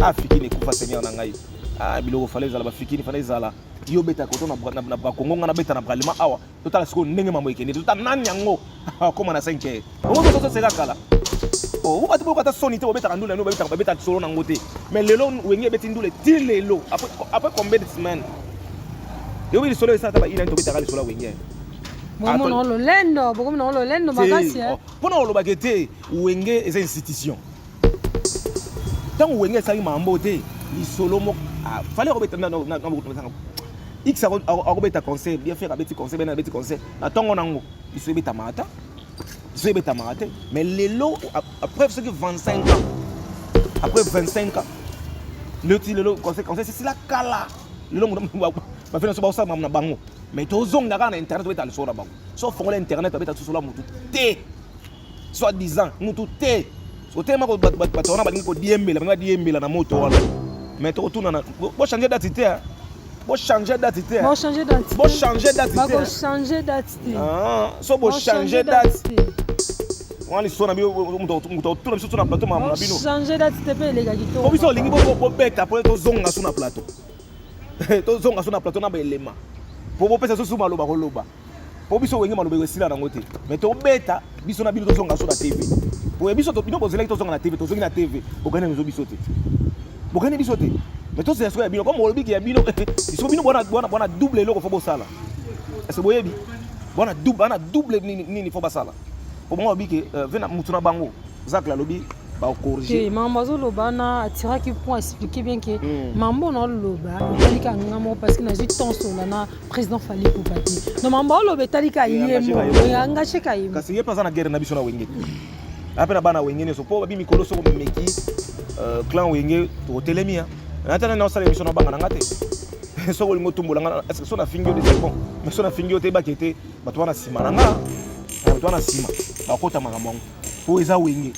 Ah, fikini ekufa seigneur na ngai. Ah, biloko fale ezala bafikini fale ezala. Yo beta koto na na na Kongo nga na beta na Bralima awa. Totala siko ndenge mambo ekende. Totala nani yango. Akoma na 5. Bongo tozo seka kala. Oh, vous battez beaucoup à son idée, vous bêtez à nous, nous bêtez à bêtez à solo dans côté. Mais le long où il y a bêtez nous les tils les lots. Après après combien de semaines? Et oui, le solo est ça, il a une tobita à le solo où il y a. Bokomi na ololendo, bokomi na ololendo makasi. Mpo na olobaka ete wenge eza institution. ntango wenge asali mambo te lisolo moko ah, fale akobeta nabokutumasanga x akobeta conseil bien faire abeti conseil bena abeti conseil na ntongo nango lisolo ebetamaka ata lisolo ebetamaka te mais lelo après soki 25 ans après 25 ans lelo ti lelo conseil conseil sesila kala lelo bafei na so baosala mamu na bango mais tozonga kaka na internet obeta lisolo na bango so ofongola internet abeta lisolo ya motu te soit disant mutu te otelema bato wana balingi kodiembela balingi badiembela na moto wana mais tokotunana bochange dati te hein. bochange dati te hein. bochange dati te bochange dati te bochange dati te ah, so bochange dati wana liso na moto otuna biso so na plateau mamona bino change dati te mpe eleka kitoko biso olingi bobeta mpo tozonga so na plateau tozonga so na plateau na baelema mpo bopesa so su maloba koloba po biso wenge maloba esila nango te mais tobeta biso na bino tozonga so na tv boye biso bino bozelaki tozonga na tv tozongi na tv bokani biso biso te bokani biso te mais tozela sikoyo ya bino comme olobiki ya bino biso bino bwana bwana bwana double eloko fo bosala ese boyebi bwana double bana double nini nini fo basala po bango alobi ke euh, vena mutu na bango zakla alobi bakorige mambo azoloba na atiraki point expliquer bien ke hmm. mambo na oloba etalika nga moko parce que nazwi tensola na président Fally Ipupa te no mambo oloba etali kayembo engage kayembo kasi ye mpe aza na guerre na biso na wenge ape na bana wenge nyonso mpo babi mikolo soko memeki euh, clan wenge tokotelemi natana na osala émission na banga na nga te soko olingi otumbola nga est ce que so nafingi yo te c'est bon mais so nafingi yo te ebaki ete bato wana nsima na nga bato wana nsima bakota makambo yango mpo eza wenge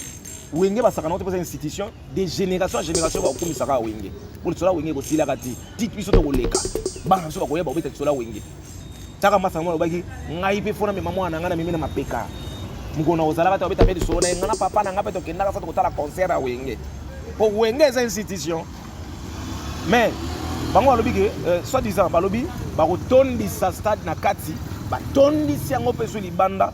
wenge basakana ote mpo eza institution de génération en génération bakokomisa kaka wenge mpo lisola wenge ekosilaka te tiki biso tokoleka bana biso bakoya bakobeta lisola wenge taka masa yango alobaki ngai mpe fona mema mwana na ngai na mimi na mapeka mokolo na kozalaka te babeta mpe lisolo na ye ngai na papa na ngai mpe tokendaka fo tokotala concert ya wenge mpo wenge eza institution mais bango balobi ke euh, soit disant balobi bakotondisa stade na kati batondisi yango mpe so libanda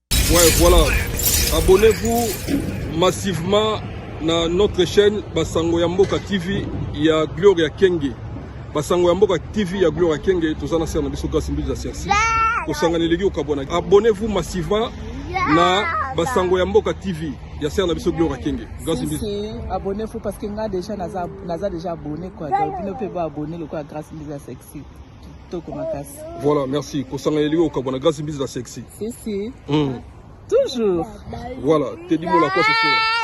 Ouais, voilà. Abonnez-vous massivement na notre chaîne Basango ya Mboka TV ya Gloria Kenge. Basango ya Mboka TV ya Gloria Kenge toza na sera na biso Grace Mbiza Sersi. Kosangana eleki okabwana. Abonnez-vous massivement na Basango ya Mboka TV ya sera na biso Gloria Kenge. Grace Mbiza. Abonnez-vous parce que nga déjà naza naza déjà abonné quoi. Donc bino pe ba abonné lokola Grace Mbiza Sexy. kitoko makasi voilà merci kosanga elingi okabwana grâce mbisi la sexy si si mm. toujours voilà tedi mola kwa sosola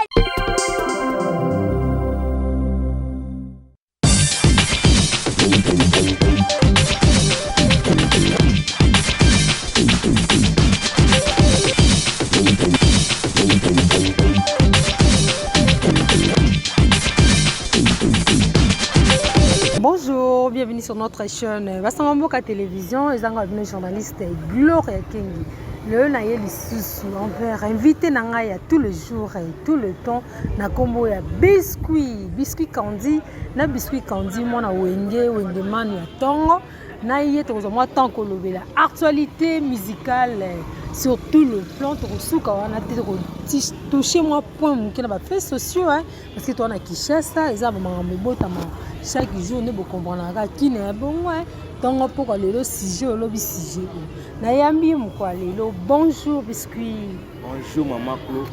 sur notre chaîne basanga mboka télévision ezanga bino journaliste gloria kengi lelo na ye lisusu envers invité na ngai ya tout le jour et tout le temps na nkombo ya biscuit biscuit candy na biscuit candy mwana wenge wenge manu ya ntongo na ye tokozwa mwa temps kolobela actualité musicale sur tout le plan tokosuka wana te tokotouche mwa point moke na bafaits sociaux Parce que toi na Kinshasa eza ba makambo ebotama chaque jour nde bokomprenaka kina ya bongo ntongo mpokwa lelo sujet olobi sujet oyo nayambi ye mokwa lelo bonjour biscuit bonjour mama clo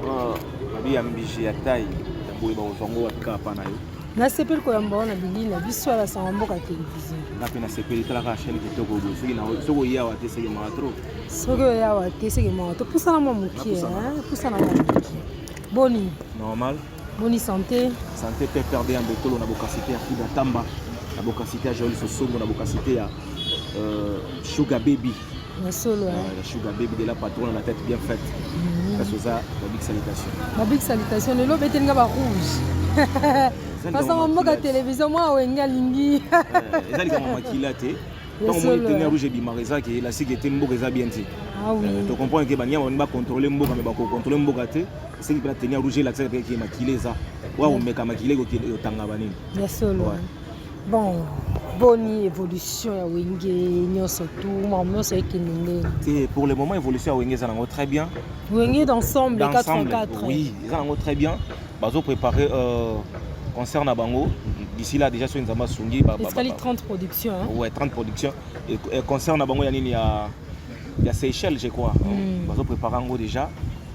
ah, nabi ya mbiji ya tai ya boye bakozwa ngo wapi kaka mpa na yo nasepeli koyamba wana bilili na biso ya basanga mboka televizio nga mpe nasepeli talaka chaine kitoko boye soki soki oye awa te seke mawa tro soki oye awa te seke mawa to pusana mwa mokie pusana mwa mokie Boni. Normal. Boni santé. Santé PPRD ya Mbotolo na bokasite ya Frida Tamba na bokasite ya Joël Sosombo na bokasite ya euh, Sugar Baby. Ya solo. Hein. Ah, ya Sugar Baby de la patronne la tête bien faite. Mhm. Kasi oza ba big salutation. Ba big salutation lelo beteli nga ba rouge. Parce que mboka télévision moi wenge alingi. Eza likambo makila te. ntango moni teni ya rouge ebimaka eza ke elastique ete mboka eza bien te ah euh, tocomprendre ke banyama bani bacontrole mboka me bakocontrole mboka te esengi mpena teni ya rouge elakisaka mpe ke makila eza wa komeka makila ekotanga banini ya solo bon boni évolution ya wenge nyonso tu makambo nyonso ekende ndenge te pour le moment évolution ya wenge eza nango très bien wenge d'ensemble 84 oui eza nango très bien bazo préparer euh, concert na bango d'ici là déjà soki nzambe asungi escali 30 production hein? ouais 30 production et, et concert na bango ya nini ya ya Seychelles je crois mm. bazo préparer yango déjà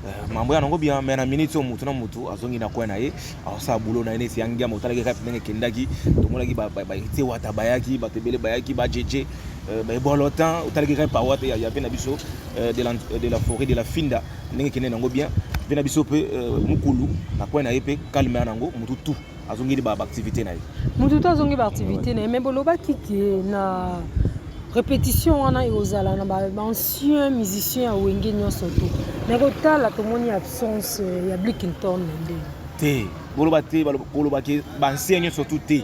euh, mambo ya nango bien mais na minute oyo motu na motu azongi na coin na ye aosala boulot na ye neti ya ngiama otalaki kaka ndenge ekendaki tomonaki batie wata bayaki bato ebele bayaki bajeje euh, baebolotan otalaki kaka pawa te ya pe na biso euh, de la forêt de la finda ndenge kende nango bien mpe na biso mpe euh, mokulu na coin na ye mpe calme ya nango motu tout azongeli baactivité na ye motu tout azongi baactivité na ye mais bolobaki ke na répétition wana ekozala na baancien musicien ya wenge nyonso te mais kotala tomoni absence euh, ya blikington na ndenge te boloba te kolobaki baancien nyonso tout te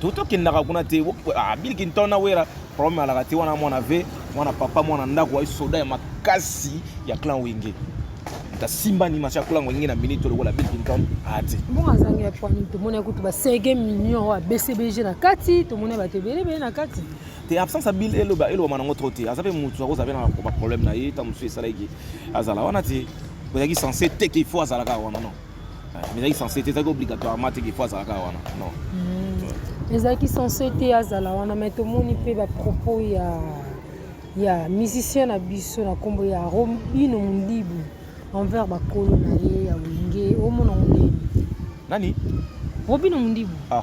Toto kendaka kuna te ah, Bill Clinton na Wera problème alaka te wana mwana ve mwana papa mwana ndako ayi soda ya makasi ya clan Wenge tasimba ni masha kulango ngi na minute lokola Bill Clinton ati mbongo azangi ya pwani tomoni kutu ba 5 millions wa BCBG na kati tomoni bato ebele bele na kati te absence ya Bill eloba eloba manango trop te aza pe mutu akozala pe na ba problème na ye ta mosusu esalaki azala wana te ozalaki sense te qu'il faut azalaka wana non mais ezalaki sense te ezalaki obligatoirement te kefo azalaka wana non hmm. ezalaki sense te azala wana mai tomoni mpe bapropos ya ya musicien na biso na nkombo ya robino mondibu envers bakolo na ye ya wenge omona ngo ndeni nani robino mondibu ah.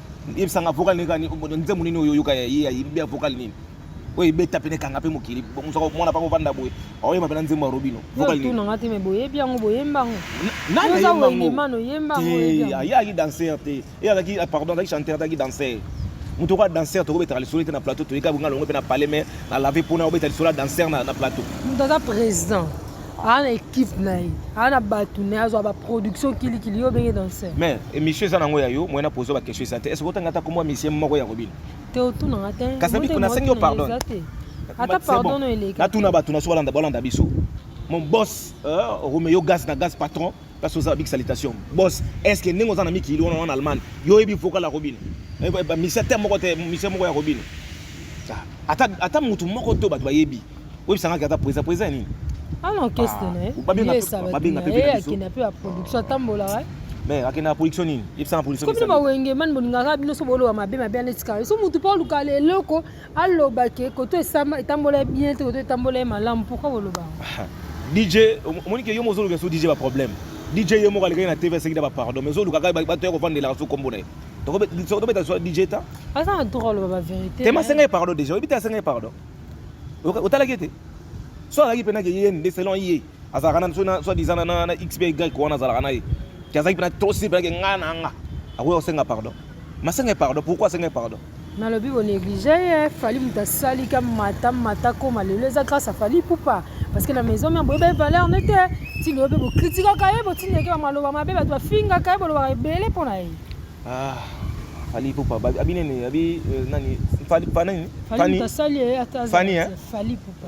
yebisa nga vocal nini kani nzembo nini oyo oyoka ye ayebi ya vocal nini oyo ebeta pene kanga mpe mokili mosaka mwana mpaka ovanda boye aoyeba mpe na nzembo ya robino vokaltunanga te me boyebi yango boyembango ayaki danser te e azalaki ah, pardon azalaki chanteur azalaki danser moto okoya danser tokobetaka lisolo te na plateau toyika bonga longo mpe na palais me na lave mpona obeta lisolo ya danser na plateau moto aza président aa na ekipe na ye aa na bato na ye azwa baproduction kilikili yo obenge danser mais émission eza nango ya yo moye na pozo baquestion eza te est ce que otanga ata komwa misie moko ya kobina te otunanga te kasabiko nasengi yo pardon ata pardon eleki natuna bato na so balanda biso mon boss euh, romeo gas na gas patron Parce que ça big salutation. Boss, est-ce que nengo zana miki on en Allemagne. Yo ebi vocal la robine. Eh, bah, monsieur temo ko te monsieur moko ya robine. Ah, ata ata mutu moko to bato bayebi. Oyebi sanga kata presa presa nini? Ah non, qu'est-ce que ne? Bah, babenga pe babenga pe. Eh, akina pe a production tambola ouais. Mais akina production nini? Yebisa na production. Comme ba wenge man boningaka bino so bolo wa mabe mabe na tikala. So mutu pa luka le loko aloba ke koto esama etambola ye bien te koto etambola ye malamu pourquoi boloba dj omoni ke yo mo ozoluka so dj baproblème dj ye moko alekaki na tv asekida bapardon mais ozoluka kaka bato ya kovandelaka so kombo na ye tobeta so dj ta aza na droit aloba baverité te masenga ye pardon déjà oyebi te asenga ye pardon otalaki ete so alaki mpenaki ye nde selon ye azalaka na biso soit disant na na xby wana azalaka na ye ti azalaki mpena tosi mpena ke ngai na nga akoya kosenga pardon masenga pardon pourquoi asenga pardon nalobi bonéglige ye fali moto asali ka mata mata koma lelo eza grâce a fali pupa parce que na maison mère boyeba ye valeur ne te ti lelo mpe bokritikaka ye botindeke bamaloba mabe bato bafingaka ye bolobaka ebele mpo na ye ah, fali pupa abi nini abi euh, nani fani fani fani eh, fani eh? fali pupa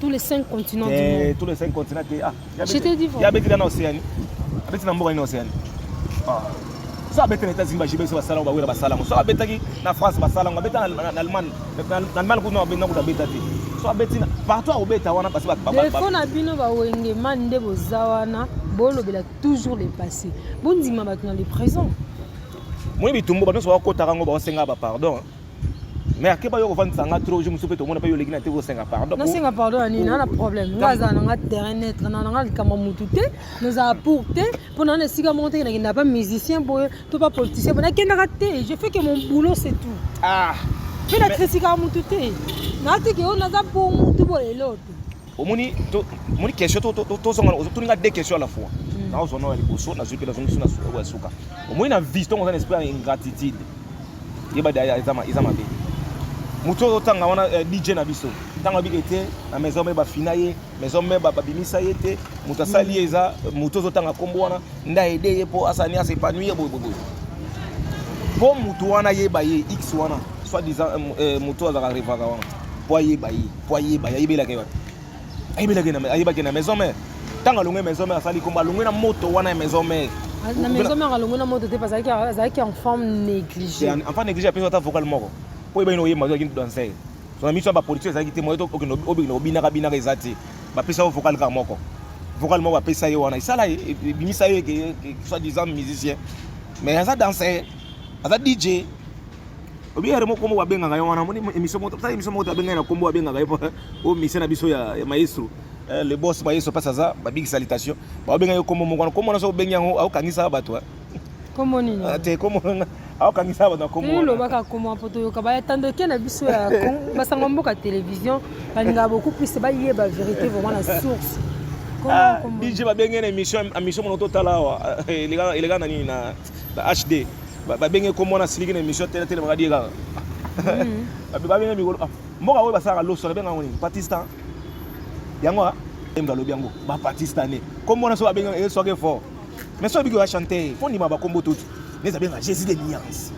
tous les cinq continents du eh, monde tous les cinq continents te ah je t'ai dit ya beti na océanie abeti na mboka ni océanie ah so abeti na états-unis bajibe biso basala bawela basala ngo so abetaki na france basala ngo abeta na allemagne na allemagne kuna abenda kuta abeta te so abeti na partout akobeta wana parce defo na bino bawenge mani nde boza wana bolobela toujours le passé bondima bato na le présent moi bitumbu bato nyonso bakotaka ngo baosenga bapardon mais akeba yo kovandisa nga trop jour mosusu mpe tomona mpe yo oleki na te kosenga pardon nasenga pardon ya nini ana problème nga azala na nga terrain netre na nanga likambo motu te nazala pour te mpo naa na esika moko te nakenda pa musicien boye to pa politicien boye nakendaka te je fais que mon boulot c'est tout ah mpe na kritikaka motu te naatiki yo naza pour motu boye lelo te omoni moni question tozonga otuni nga deux question à la fois hmm. nazwa nao ya liboso nazwi mpe nazongi biso na suka omoni na vie ntongo oza na esprit ya ingratitude yeba eza mabe moto oyo ozotanga wana eh, dj na biso ntango abiki te na maison me bafina ye maison me babimisa ye te moto asali ye eza moto ozotanga nkombo wana nda ede ye mpo asani asa epanui ye boyeboye mpo moto wana ayeba ye x wana soit disant eh, eh, moto azalaka revaka wana mpo ayeba ye po ayeba ayebelaka ye wapi ayebelaka ye na- ayebaki ye na maison mère ntango alongwe maison mère asali kombo alongwe na moto wana ya maison mère na maison mère alongwe na moto te mpe azalaki azalaki en forme négligée C'est en- enfin négligé apesi ata vocal moko po oyeba ino oyemba ozalaki danser so na miso ya bapolitio ezalaki te moyo obina obinaka binaka eza te bapesa yo vocal kaka moko vocal moko bapesa ye wana esala ye e- ebimisa ye ke- ke- soit disant musicien mais aza danser aza dj obi yare moko moko abengaka yo wana moni émission moko ça émission moko te abengaka na kombo abengaka yo o mission na biso ya maestro eh, le boss maestro pasa za babigi salutation babenga yo kombo moko wana kombo wana so obengi yango aokangisa bato kombo nini ah, te kombo wana aokangisa bato na kombo wana lobaka kombo mpo toyoka bayatandoke na biso ya basango mboka télévision balingaka beaucoup plus bayeba vérité vraiment na source ah, dj babenge na émission émission mono totala awa eh, eleka na nini na ba HD ba benge ko mona siliki na emission tele tele makadi kaka mhm. ba benge mikolo ah, mboka oyo basalaka loso na benga ngoni Pakistan yango a emza lobi yango ba Pakistanais ko mona so ba benge e soke fort mais so bigi wa chanter fo ndima ba kombo tutu neza benga Jésus de nuance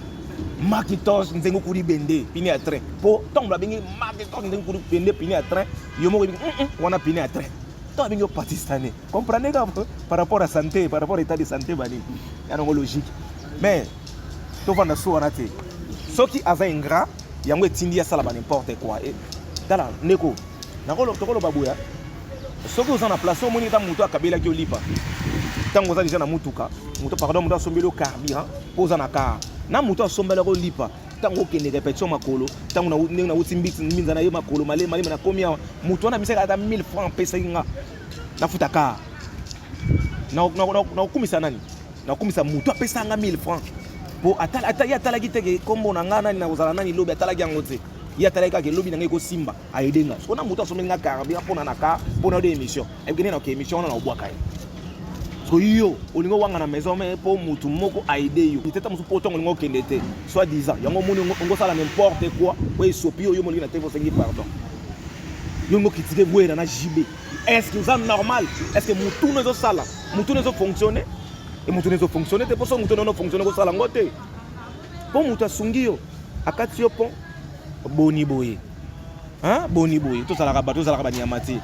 makitos nzengo kuli bende pine ya train po ntango babengi makitos nzengo kuli bende pine ya train yo moko ebi wana pine ya train to abengi yo pakistanais Comprenez par rapport à santé, par rapport à état de santé bani. Ya nango logique. Mais to vanda so wana te. Soki aza ingrat, yango etindi ya sala ba n'importe quoi. Et tala ndeko, nakolo tokolo babuya. Soki oza na place omoni ta moto akabela ki olipa. Tango oza déjà na mutuka, moto pardon moto asombeli carburant, poza na car. Na moto asombela ko lipa. ntango okende repetition makolo ntango ndenge nauti mbinza na ye makolo malema lema nakomi awa moto wana misaka ata 1000 franc apesaki nga nafuta car nakokumisa nani nakokumisa motu apesa nga 1000 franc po ye atalaki te ke kombo na ngai nani nakozala nani lobi atalaki yango te ye atalaki kaka elobi na ngai ekosimba ayede nga soko na motu asomeli nga carburant mpona na car mpona ode émission ayebikende na ke émission wana naobwaka ye soki yo olingi owanga na maison me mpo motu moko aide yo itata mosusu mpo ntango olingi okende te soit disant yango omoni ongosala n'importe quoi oyo esopi yo yo molingi na te osengi pardon yo ngo critiquer Werra na JB est-ce que oza normal est-ce que mutuna ezo sala mutuna ezo fonctionner et mutuna ezo fonctionner te poso mutuna no fonctionner ko sala ngo te po mutu asungi yo akati yo pont boni boye hein boni boye to salaka bato salaka ba nyama te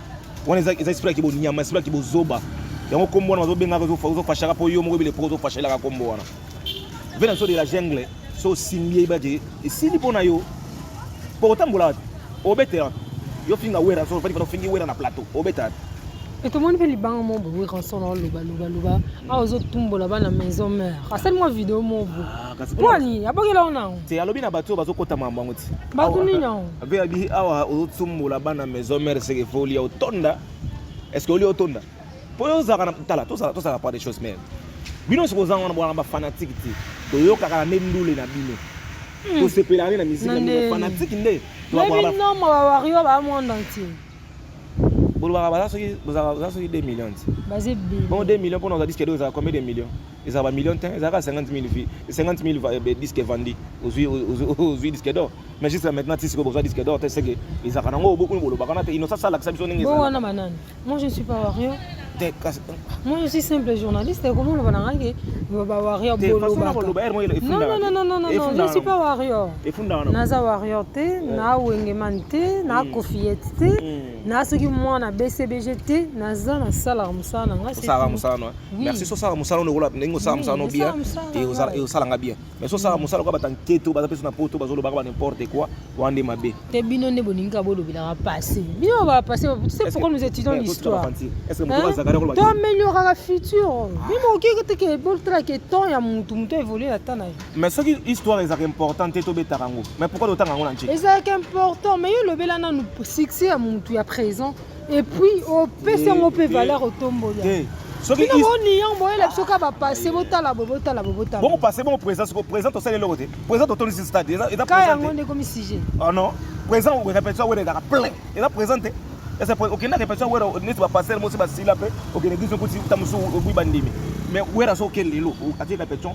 wana eza eza esprit ki bo nyama esprit ki bo zoba yango kombo wana bazo benga ko zo fashaka po yo moko bile po zo fashelaka kombo wana Venanso de la jungle so osimbi yebi ete esili mpo na yo mpo otambola wapi obeta wapi yo finga wera so ofandi fana ofingi wera na plateau obeta wapi e tomoni mpe libanga moko boye ranson aoloba loba loba awa ozotumbola bana maison mare asali mwa video moko boye Ah, kasi mpo kuna- nini abongela yo nango te alobi na bato oyo bazokota mambo yango ti bato nini yango abe abi awa ozotumbola bana maison mare seke fo olia otonda estce olia otonda mpo yo ozalaka na tala tozala tozala pas des choses meme bino nyonso kozanga wana bwana bafanatike te toyokaka na nde ndule na bino hmm. tosepelaka nde na miziki na bino fanatike nde tobinoma bawario ba monde entier bolobaka baza soki baza soki 2 million ti bon 2 million mpona oza diske do ezalaka combien de million ezala ba million te ezalaka 50 000 vie 50 000 diske vandi ozwi diske dor mais juste maintenant ti sikoyo bozwa diske dor te seke ezalaka nango obokuni bolobaka na te inosa salakisa biso ndenge ezalaka Moi je ne suis pas warrior. Moi je suis simple journaliste et comment on va narrager Nous va warrior bolo. Non non non non non non, je ne suis pas warrior. Naza warrior te, na wengeman te, na mm. kofiette te, mm. na soki moi na BCBG te, naza na sala musala nga. Sala musala. Merci so sala musala on est là, ningo sala musala bien et au sala nga bien. mais so sala mosala kwa batankete oyo baza mpe so na poto bazolobaka ba n'importe quoi wana nde mabe te bino nde bolingi kaka bolobelaka passé bino bapassé c'est pourquoi nous étudions eh, l'histoire to amélioraka futur bino ah. okeke te ke botala ke temps ya motu motu évolue na temps na ye mais soki histoire ezalaka important te tobetaka yango mais pourquoi totanga yango na nje ezalaka important mais yo olobela nanu succès ya motu ya présent Et puis opesi yango mpe valeur otombola soki bino boni yango boyela biso ka bapasse botala bo botala bo botala bongo passe bongo présent soko présent tosali eloko te présent totondisi stade eza eza ka yango nde ekomi sujet ah non présent répétition wera ezalaka plein eza présent te eza okenda répétition wera neti bapasser mosi basila mpe okende biso kuti ta mosusu obwi bandimi mais wera so okende lelo atie répétition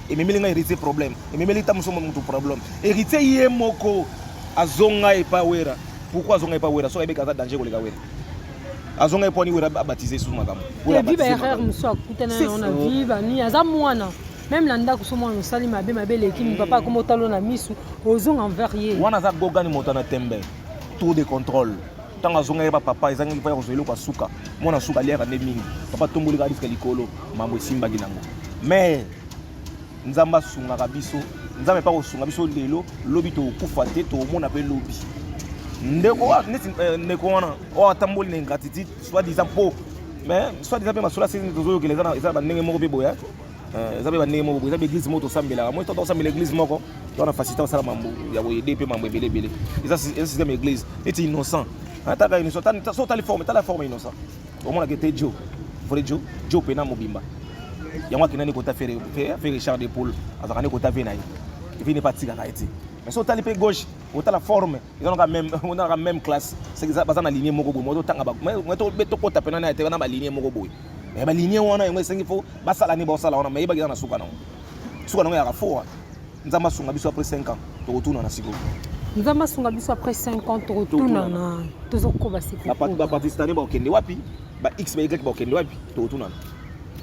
ememeli ngai héritier problème ememeli ta mosusu motu problème héritier ye moko azonga epa wera pourquoi azonga epa wera soki ayebeki aza danger koleka wera azonga epo ani wera abatize lisusu makambo erreur mosusu akutana yango na vie bani aza mwana meme na ndako so mwana osali mabe mabe eleki mm. papa akoma otalo na misu ozonga envers ye wana aza gogani moto na tembe tour de contrôle ntango azongaki ba papa ezangaki mpo ya kozwa eloko ya suka mwana suka aliaka nde mingi papa tomboli kaka diska likolo mambo esimbaki nango mais nzambe asungaka biso nzambe mpe akosunga biso lelo lobi tokokufa te tokomona mpe lobi ndeko wana neti eh, ndeko wana oyo atamboli na ingratitude soit disant mpo mais soit disant mpe masolo asili tozoyokela eza na bandenge moko mpe boya Eh, eza mpe bandenge moko boye eza baeglise moko tosambelaka moi tata osambela eglise moko towana facilité osala mambo ya koyede mpe mambo ebele ebele eza système ya eglise neti innocent ataka innocent so otali forme tala forme innocent omonaka ete jo vole jo jo mpe na mobimba yango akenda nekota fere richard de poule azalaka nekota ve na ye evi nepa atikaka ye te mais so otali mpe gauche otala forme eza naka même onaka même classe baza na ligne moko boye mototanga tokota mpe na na ete na baligne moko boye mais balinie wana yango esengi fo basala nini baosala wana mayebaki eza na suka nango suka nango yaka fo wana nzambe asunga biso apres 5 ans tokotunana sikoyo nzambe asunga biso apres 5 ans tokotunana tozokoba sikobapakistane bakokende wapi ba x ba y bakokende wapi tokotunana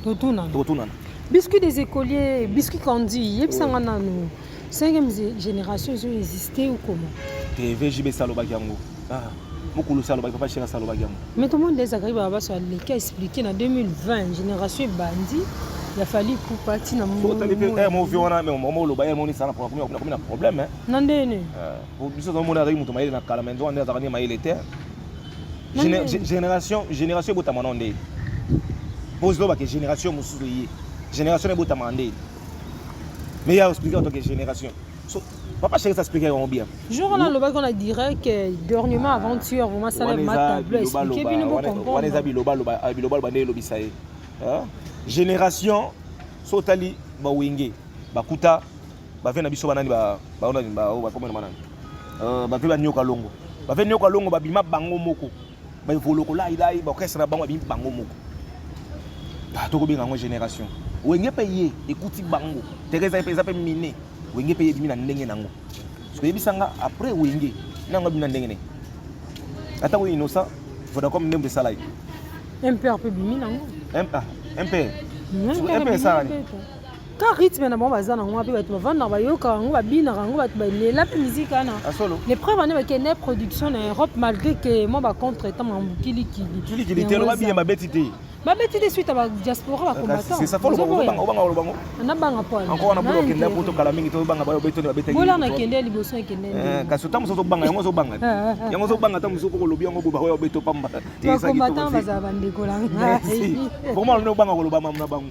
totunana tokotunana biscuit des écoliers biscuit kandi yebisa nga nanu cinquième génération ezo existe ou comment te vjb esalobaki yango Ah, mukulu salo ba papa shira salo ba gamu. Mais comment les akari ba baso aleki a expliquer na 2020 génération ebandi ya fali pupa ti na mo. Tali pe eh mo vieux wana mais mo lo ba ye moni sana pour kuna kuna problème hein. Na ndene. Euh, pour biso zo mona azaki mutu mayele na kala mais ndo ande azakani mayele te. Génération génération ebotama na ndene. Pose lo ba ke génération mususu ye. Génération ebotama ndene. Mais ya expliquer en tant que génération. Papa chéri, ça explique vraiment bien. Jour on a le qu'on a direct que dernièrement ah, avant tueur, vraiment ça le matin bleu expliquer bien bon comprendre. On les a biloba loba, ah, biloba loba ndelo bisaye. Hein? Génération sotali ba wenge, ba kuta, ba vena biso banani ba ba ona ba ba comment manana. Euh, ba pe ba nyoka longo. Ba pe nyoka longo ba bima bango moko. ba evoloko lai lai ba orchestre na bango abimi bango moko ah, tokobenga yango génération wenge mpe ye ekuti bango teresa mpe eza mpe mine wenge mpe ebimi na ndenge nango soki oyebisa nga après wenge na yango abimi na ndenge nini ata ko innocent vodacom ndembo esala ye mpe mpe bimi nango mpe mpe esala nini ka rythme na bango baza nango mpe bato bavandaka bayokaka yango babinaka yango bato balela mpe miziki wana ah, le preuve wana bakende production na europe malgré ke mwa bacontre etant mambukilikili babeti te babeti te suite ya badiaspora bakombatanabanga poibola nakende liboso ekendenkasi ota mosusu ozobanga yango ozobanga yango ozobanga ata mosusu kokolobi yango boba oyo obeto pamba bakombatan bazala bandeko na ngai vraiment obanga koloba mamu na bango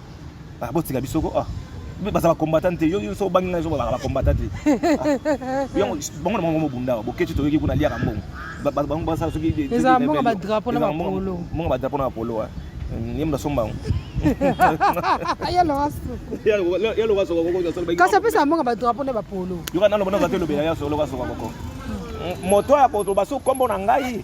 Ah, botika biso ko ah. baza bacombatant te yo so obangi ngai ezobaka bacombatant te yango bango na bango mobunda awa boketi toyoki kuna liaka mbongo bango basala sokimonga badrapo na bapolo ye moto asomba yango kasi apesa mbongo badrapo na bapolo yoka naloba naza te elobela ya solo basoka boko moto ya koloba so nkombo na ngai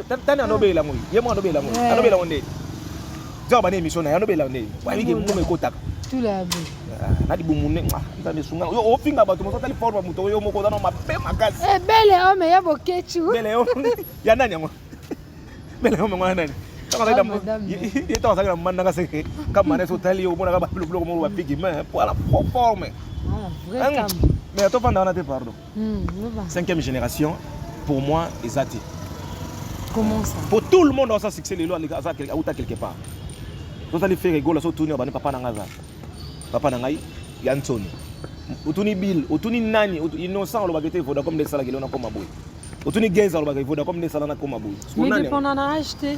tani anobela ngo ye moko anobela ngo anobela ngo nde zao bana emission na ye anobela nde wayike mbuma ekotaka na libumu nde nzambe esunga yo ofinga bato mosusu atali forme moto yo moko oza na mabe makasi eh, bele ome ya bokechu bele ome ya nani yango bele ome ngo ya nani ye ntango azalaki na mandanga seke kamana esi otali yo omonaka babiloko moko bapigi me po ala forme mais atofanda wana te pardon hmm, cinquième génération pour moi eza te comment ça pour tout le monde aza succès lelo aza auta quelque part tozali fere gola so tuni obani papa na ngai aza papa na ngai ya nsoni otuni bill otuni nani innocent olobaka ete voda comme nde esalaki lelo nakoma boye otuni geza olobaka voda comme nde esala nakoma boye mais dépendant na age te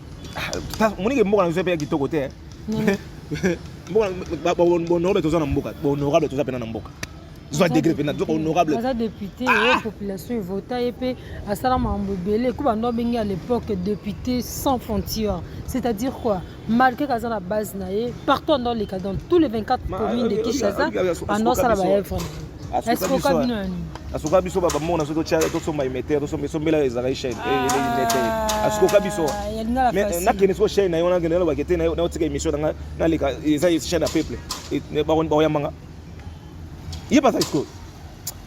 omoni ke mboka na biso mpe ya kitoko te bohonorable toza na mboka bohonorable toza mpena na mboka zwa degre mpena toza honorable aza député ah! ye population evota ye mpe asala makambo ebele eko bando abengi à l'époque député sans frontière c'est-à-dire quoi malgré kaza na base na ye partout ando aleka dans tous les 24 communes de kinshasa ando asala baevre asuka biso babamona soki tosomba imetere tosomba esombela ezalaka chaine imetere asukoka biso nakende soko chaine na yo nakende nalobaka te naotika émission na nga naleka eza chaine ya peuple bakoyambanga ye baza sikoyo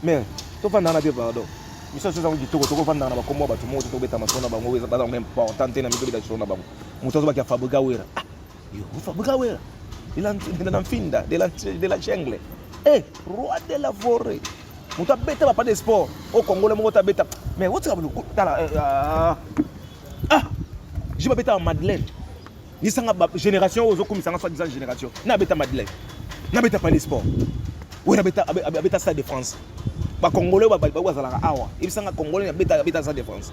mais tofandana te pardon biso nyonso ezango kitoko tokofandaka na bakombo ya bato moko te tobeta masolo na bango baza important te na mito beta lisolo na bango moto azobaki ya fabriga wera Yehova bukawela de la nfinda de la, de la jungle eh, roi de la forêt moto abeta bapa de sport o congole moko te abeta mais otika tala eh, ah, ah. je babetaka madeleine lisanga génération oyo ozokumisanga soit disant génération na abeta madeleine na abeta pale sport oyo abeta stade de france bacongolais oyo bazalaka awa ebisanga congolais abeta stade de france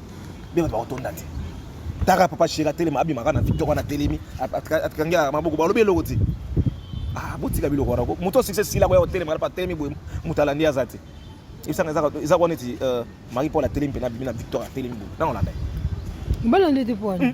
Bino bato bakotonda te. Taka papa chéri atelema abimaka na victoire wana atelemi atikangi ya maboko balobi eloko te. Ah botika biloko wana ko. Moto succès sila koya kotelema pa atelemi boye moto alandi aza te. Ebisanga eza eza kwa neti euh, Marie Paul atelemi mpe na bimi na victoire atelemi boye. Nango landa. Mbala ndete pwana. Hmm.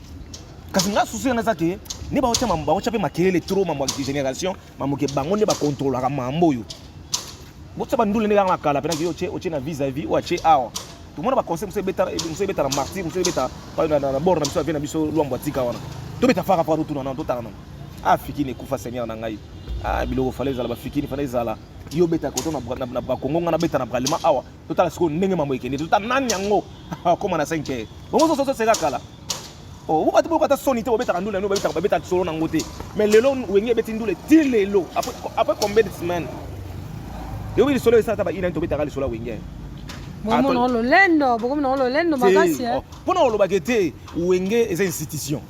kasi nga susu yana eza ke nde baotya baotya mpe makelele trop mambo ya génération mambo ke bango nde bakontrolaka mambo oyo botya bandule nde kaka na kala mpenaki yo otye na vis à vis oyo atye awa tomona baconseil mosu ebeta mosu ebeta na martir mosu ebeta na bord na biso avie na biso lwambo atika wana tobeta faka faka totuna nano totala nano ah fikini ekufa seigneur na ngai ah biloko fale ezala bafikini fale ezala yo obeta koto na bakongo ngai nabeta na bralema awa totala sikoyo ndenge mambo ekende totala nani yango akoma na 5 heures bongo soso soseka kala oh, oyo bato boyoka ata soni te bobetaka ndula yango babetaka babetaka solo nango te mais lelo wenge ebeti ndule ti lelo après combien de semaine yobi lisolo esala ata bainani tobetaka lisolo ya wenge bomona lolendo bokomona lolendo makasi mpona eh? oh, olobaka ete wenge eza institution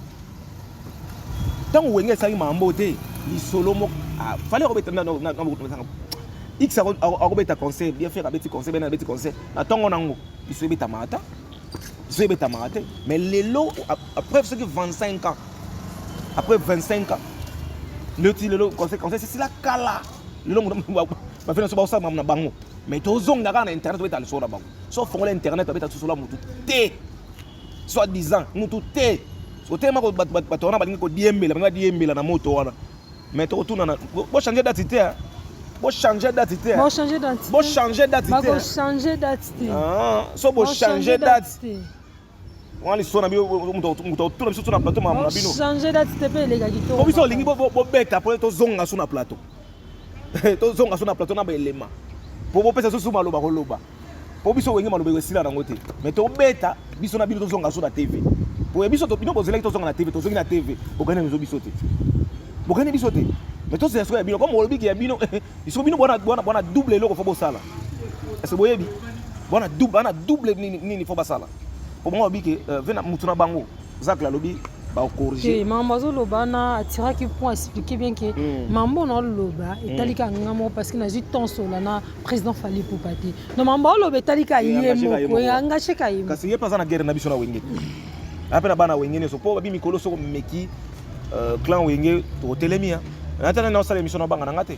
ntango wenge esalaki mambo te lisolo moko ah, fale akobeta na bokotomasanga x akobeta conseil bien faire abeti conseil bena abeti conseil na ntongo nango biso ebetamaka ta biso ebetamaka te mais lelo après soki 25 ans après 25 ans leti lelo conseil conseil sesila kala lelo bafina so baosala mamu na bango mais tozonga kaka na internet obeta lisolo na bango so fongola internet abeta lisolo ya motu te soit disant mutu te otelema bato wana balingi kodiembela balingi badiembela na moto wana mais tokotunana bochange dati te bochange dati te bochange dati te ah, so bochange dati wana liso na bino moto akotuna biso so na plateau makambo na bino change date te mpe eleka kitoko po biso olingi bobeta mpo tozonga so na plateau tozonga so na plateau na baelema mpo bopesa so so maloba koloba po biso wenge maloba esila nango te mais tobeta biso na bino tozonga so na tv boye biso bino bozelaki tozonga na tv tozongi na tv bokani biso biso te bokani biso te mais tozela soko ya bino comme olobiki ya bino biso bino bwana bwana bwana double eloko fo bosala ese boyebi bwana double bana double nini nini fo basala po bango babiki euh, vena mutu na bango zakla alobi baokorige mambo azoloba na atiraki point expliqué bien ke hmm. mambo naoloba etalika hmm. nga moko parce que nazwi temps sola na président Fally Ipupa te no mambo oloba etali ka ye moko engage ka ye kasi ye mpe aza na guerre na biso na wenge te aza mpe na bana wenge nyonso mpo babi mikolo soko meki euh, clan wenge totelemi ya natana na osala émission na banga na nga te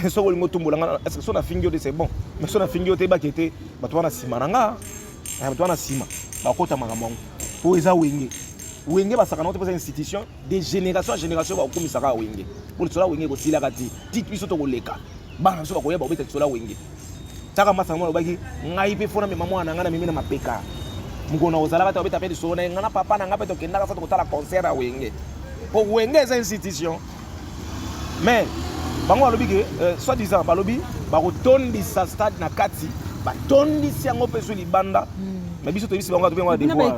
soki olingi otumbola nga est ce que so nafingi yo te c'est bon mais so nafingi yo te ebaki ete bato wana nsima na nga eh, bato wana nsima bakota makambo yango mpo eza wenge wenge basakana ote mpoza institution de génération en génération bakokomisa kaka wenge mpo lisolo ya wenge ekosilaka te tiki biso tokoleka bana biso bakoya bakobeta lisolo ya wenge taka masa yango alobaki ngai mpe fona mema mwana na ngai na mimi na mapeka mokolo na kozalaka te babeta mpe lisolo na ye ngai na papa na ngai mpe tokendaka sa tokotala concert ya wenge mpo wenge eza institution mais bango balobi ke euh, soit disant balobi bakotondisa stade na kati batondisi yango mpe so libanda hmm. mais biso toyebisi bango atobengo na devoir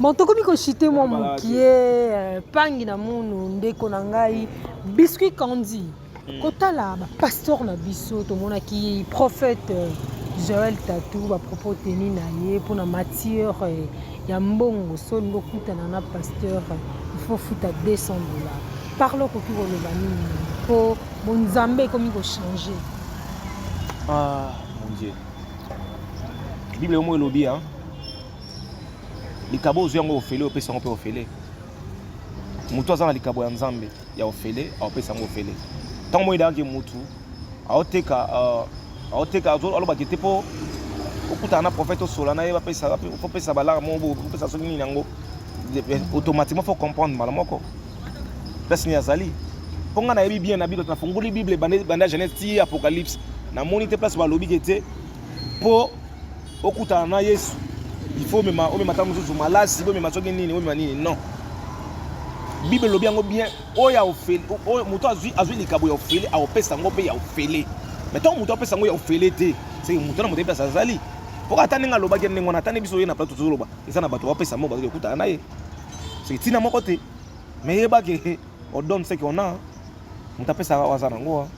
Bon, tokomi koshite mwa mokie euh, pangi na munu ndeko na ngai biscuit candy hmm. kotala bapasteur na biso tomonaki prophète euh, joel tatu bapropos teni na ye mpo na matière euh, ya mbongo so olingi okutana na pasteur ifo futa 200 dollars parle okoki koloba nini mpo bonzambe ekomi kochange ah, mon dieu bible omo elobi hein? likabo ozwi yango ofele opesi yango mpe ofele motu aza na likabo ya nzambe ya ofele aopesa yango ofele ntango moi eyaki motu aoteka euh, aoteka alobaki te mpo okutana na prophète osola na ye bapesa balaka moko opesa soki nini yango automatiquement faut comprendre mbala moko place nini azali mpo ngai nayebi bien na bino nafungoli bible banda genèse ti apocalypse namoni te place balobi ke te mpo okutana na yesu il faut omema omema ntango mosusu malasi bomema soki nini bomema nini non bible elobi yango bien oyo ya ofele oyo moto azwi azwi likabo ya ofele akopesa yango mpe ya ofele mai ntango moto apesa yango ya ofele te seke moto na moto epesa azali mpo ata ndenge alobaki ndenge wana ata nde biso ye na plato tozoloba eza na bato bapesa mo bazali kokutana na ye seke ntina moko te mai yebake odonne seke ona moto apesaka oyo aza na yango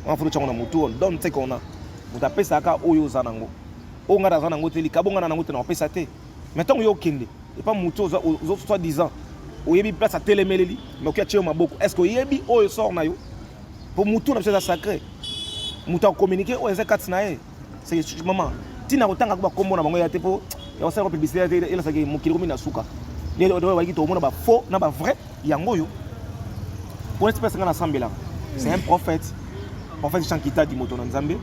wana fulu tyango na motu on donne ce qu'on a moto apesaka oyo oza na yango oyo ngai naza na yango te likabo ngai na yango te nakopesa te mais ntango yo okende epa motu soit disant oyebi place atelemeleli noki atye yo maboko est ce que oyebi oyo sort na yo mpo motu na biso eza sacré moto akominike oyo eza kati na ye c'est maman tina kotanga ko bakombo na bango ya te po ya kosala ko publicité te elasaki mokili komi na suka lelo oyo bayaki tokomona ba faux na ba vrai yango oyo po neti pesa nga nasambelaka c'est un prophète prophète jean kitadi moto na nzambe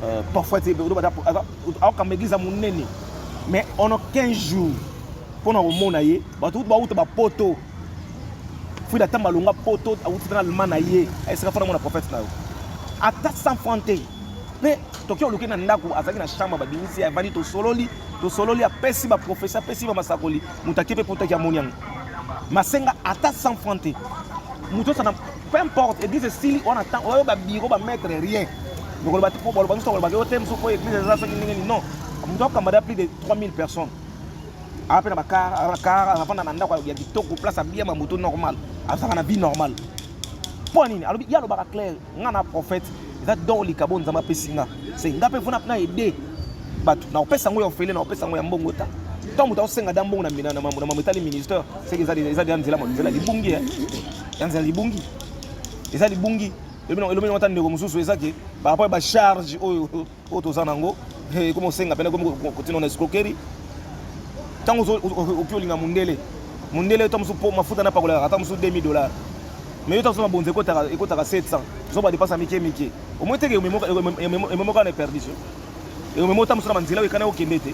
euh, prophète aokamba église ya monene mais ono 15 jours mpo na komona ye bato kutu bauta bapoto Frida ata malonga poto awuti na allemand na ye ayesaka fana mwana prophète na yo ata 100 francs te mpe toki oluki na ndako azalaki na chambre babimisi ye avandi tosololi tosololi apesi baprofesi apesi bamasakoli moto ake mpe potaki amoni yango masenga ata 100 francs te moto osana peu importe église esili wana temps oyo babiro bamaître rien lokoloba te mpo baloba nyonso balobaka yo te mosusu mpo église eza soki ndenge nini non moto akamba da plus de 3000 personnes ape na bakar bakar avanda na ndako ya kitoko place abia mamoto normal azalaka na vie normal mpo nini alobi ye alobaka claire ngai na prophète eza don likabo nzambe apesi nga se ngai mpe vona na aide bato na kopesa yango ya ofele na kopesa yango ya mbongo ta to moto akosenga da mbongo na mambo etali ministère seke eza deya nzela nzela libungi eh. ya nzela libungi eza libungi elobeli yango ata ndeko mosusu eza ke barapport ya bacharge oyo oyo toza nango eh, ekomi osenga pene ekomi kotina na escroquerie ntango okoki olinga mondele mondele yo ta mosusu mpo mafuta na pakolaka ata mosusu 2000 dollars mais yo ta mosusu mabonzi ekotaka 700 zo badepasa mike mike omoi teke ememoka na eperdition eomemo ta mosusu na banzela oyo ekana okende te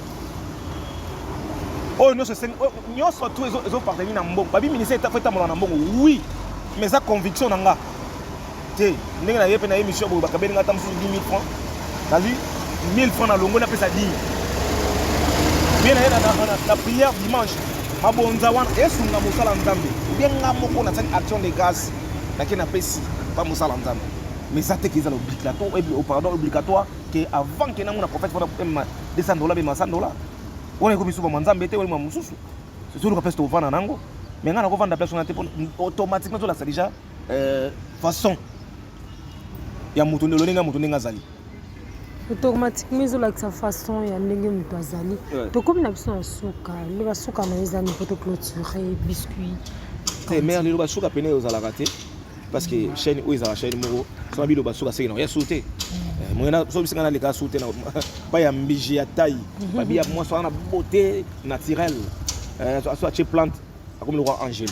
oyo nyonso nyonso tu ezoparteni na mbongo babi ministère fo etambola na mbongo oui mais eza conviction na nga te ndenge na ye mpe na ye mission boye bakabeli ngai ata mosusu 10 000 francs nazwi 1000 francs na longo napesa dime mie na ye na prière dimanche mabonza wana esunga mosala nzambe obie nga moko nasali action de grâce nake napesi mpa mosala nzambe mais eza te ke ezala obligatoire pardon obligatoire ke avant ke namona prophète mpona ema 200 dola bema 100 dola wana ekomi suba mwa nzambe te wana mosusu soluka place tovanda nango mais ngai nakovanda place wana te automatiquement tolatisa déjà euh, façon ya moto lolenge ya moto ndenge azali automatiquement ezolakisa façon ya ndenge moto azali tokomi na biso na suka nde basuka na yo eza nipo to clôture biscuit te mare lelo basuka pene ozalaka te parce que chaîne oyo ezalaka chaîne moko so na biloba suka seki na ya su te so bisinga naleka su te pa ya mbiji ya tai babi ya mwasi wana na beauté naturelle so atie plante akomi lokwa angele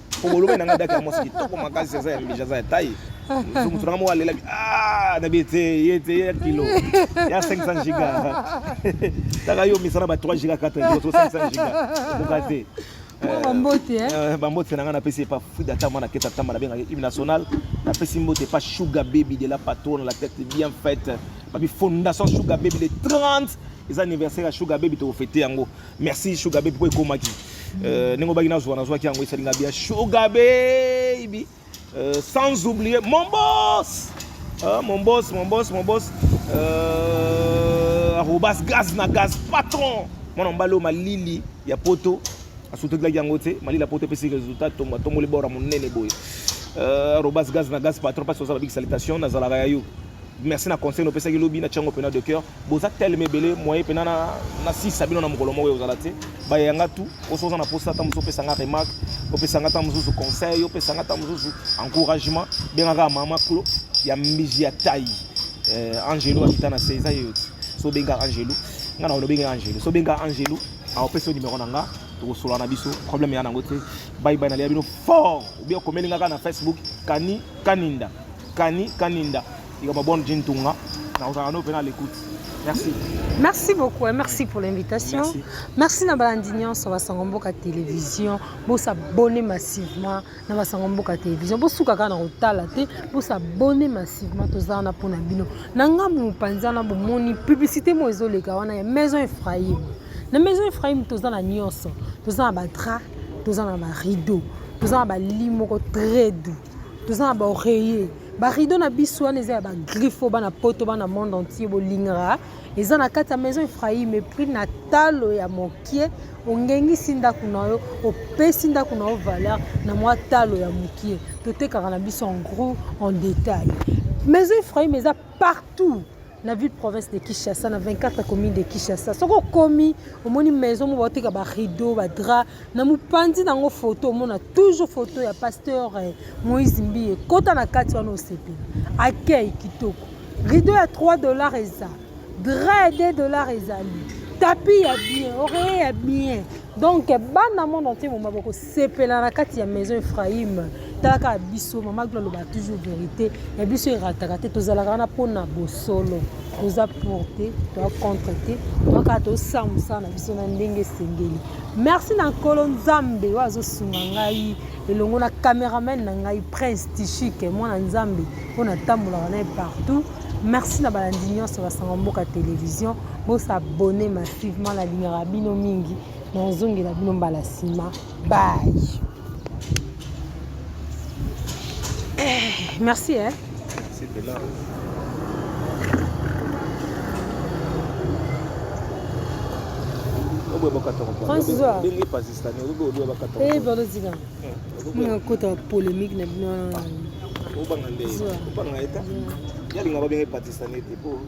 Obolobaki na nga daki ya mwasi kitoko makasi aza ya mbija aza ya taille. Mutu na nga moko alelaki ah na biye te ye te ye kilo ya 500 giga. Taka yo misana ba 3 giga 4 giga 500 giga. Okoka te. bambote eh? eh, bambote na ngai napesi epa frida ta mwana keta tamba nabengaki hymne national napesi mbote epa sugar baby de la patronne la tête bien faite babi fondation sugar baby le 30 eza anniversaire ya sugar baby tokofete yango merci sugar baby po ekomaki euh, ndenge obaki nazwa nazwaki yango esali nga bia sugar baby euh, sans oublier mon boss euh, mon boss mon boss mon boss euh, arobas gaz na gaz patron mwana mobali oyo malili ya poto asutokelaki yango te malili ya poto epesi résultat tongo atomboli bora monene boye euh, arobas gaz na gaz patron mpasi oza babiki salitation nazalaka ya yo merci na conseil nopesaki lobi na tiango pena de cœur boza teleme ebele moye pena na, na sisa bino na mokolo moko ekozala te bayanga tu oso oza na posa ata mosusu opesa nga remarque opesa nga ata mosusu conseil opesa nga ata mosusu encouragement benga kaka mama clo ya mbiji ya tai eh, angelo akita na se eza yeyo ti so benga angelo nga na olobenge angelo so benga angelo aopesa yo numero na nga tokosolola na biso problème ya nango te baibai nalia bino fort obia okomeli nga kaka na facebook kani kaninda Kani Kaninda likambo ya bonne jean tunga nakozala no mpe na l'écoute merci merci beaucoup hein. merci pour l'invitation merci, merci na balandi nyonso basango mboka télévision bosabone massivement na basango mboka télévision bosuka kaka na kotala te bosabone massivement toza wana mpo na bino na ngambu mopanzi wana bomoni publicité moko ezoleka wana ya maison ephraïm na maison ephraïm toza na nyonso toza na badra toza na barideau toza na balii moko très doux toza na ba oreiller ba rideau na biso wana eza ya ba griffo bana poto bana monde entier bolingaka eza na kati ya maison Ephraim epris na talo ya mokie ongengisi ndako na yo opesi ndako na yo valeur na mwa talo ya mokie totekaka na biso en gros en détail maison Ephraim eza partout na ville province de Kinshasa na 24 commune de Kinshasa soki okomi omoni maison moko bateka ba rideau ba drap na mopanzi nango photo omona toujours photo ya pasteur eh, Moïse Mbiye kota na kati wana osepela accueil kitoko rideau ya 3 dollars eza drap ya 2 dollars ezali tapis ya bien oreiller ya bien donc bana monde entier moma boko sepela na kati ya maison ephraim tala kaka biso mama glo aloba toujours vérité ya biso erataka te tozalaka wana mpo na bosolo toza pour te toa contre te toa kaka tosa mosala na biso na ndenge esengeli merci na nkolo nzambe oyo azosunga ngai elongo na cameraman na ngai prince tishike mwana nzambe oyo natambolaka naye partout merci na balandi nyonso basango mboka television bosabone massivement nalingaka bino mingi nazongela bino mbala nsima bay eh, merci eh. balozika nakota polémique na bino wana